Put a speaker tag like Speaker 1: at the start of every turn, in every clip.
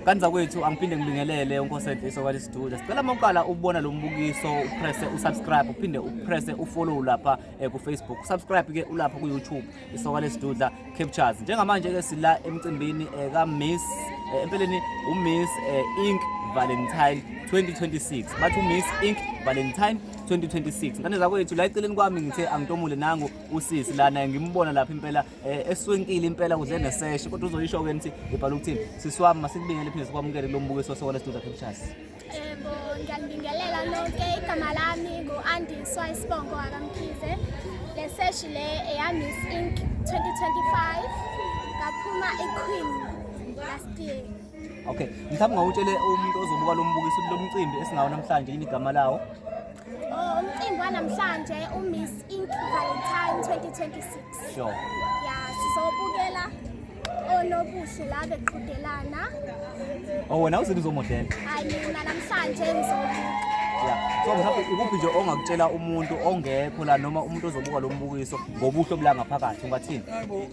Speaker 1: Kanti zakwethu
Speaker 2: angiphinde ngibingelele uNkosenhle iso kwale studio. Sicela uma uqala ubona lo mbukiso upresse usubscribe uphinde upresse ufollow lapha eh, ku Facebook. Subscribe ke ulapha ku YouTube iso kwale studio Captures. Njengamanje ke sila emcimbini eh, ka Miss eh, empeleni u Miss eh, Ink Valentine 2026 bathi uMiss Ink Valentine 2026 ngane zakwethu la eceleni kwami ngithe angitomule nangu usisi lana ngimbona lapha impela eh, eswenkile impela kuze neseshe kodwa uzoyisho ke nithi ibhala ukuthini siswami masikubingele phinde sikwamukele lo mbukiso wasekwala studio pictures yebo ngiyanibingelela
Speaker 3: lonke igama lami ngu-andiswa isibongo akamkhize le seshi le eyamiss inc 2025 ngaphuma iqueen last year okay mhlawumbe
Speaker 2: ngawutshele umuntu ozobuka lo mbukiso lo mcimbi esingawo namhlanje yini igama lawo
Speaker 3: Umcimbi wanamhlanje uMiss Ink Valentine 2026. Sure. Ya sizobukela onobuhle la beqhudelana. Oh
Speaker 2: wena uzithi uzomodela? Hayi mina
Speaker 3: namhlanje ngizobuka. Yeah. So mhlawumbe
Speaker 2: ikuphi nje ongakutshela umuntu ongekho la noma umuntu ozobuka lo mbukiso ngobuhle obula ngaphakathi ungathini?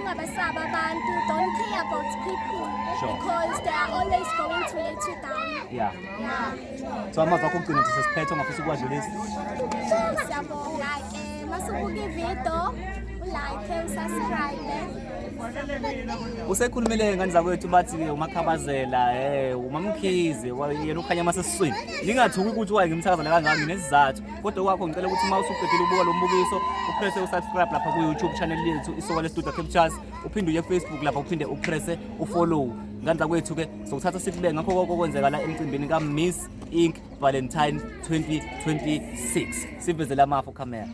Speaker 2: ungabasabi
Speaker 3: abantu don't care about people Sure.
Speaker 2: because
Speaker 3: they are always going to let you down yeah yeah
Speaker 2: so
Speaker 3: amazwi akho okugcina nje
Speaker 2: sesiphethe ongafisa ukuwadlulisa siyabonga ke
Speaker 3: masubuka ivido ulike usubscribe usekhulumile
Speaker 2: ngani zakwethu bathi umakhabazela um umamkhize yena ukhanya amasesiswini ningathuki ukuthi waye ngimthakazela kangami nesizathu kodwa kwakho ngicela ukuthi uma usuqedile ukubuka lo mbukiso uprese usubscribe lapha ku-youtube channel lethu isoka lestudio captures uphinde uye facebook lapha uphinde uprese ufollow ngandla kwethu-ke sokuthatha sikube ngakho koko kwenzeka la emcimbini ka-miss inc valentine 2026 sivezele amafu camera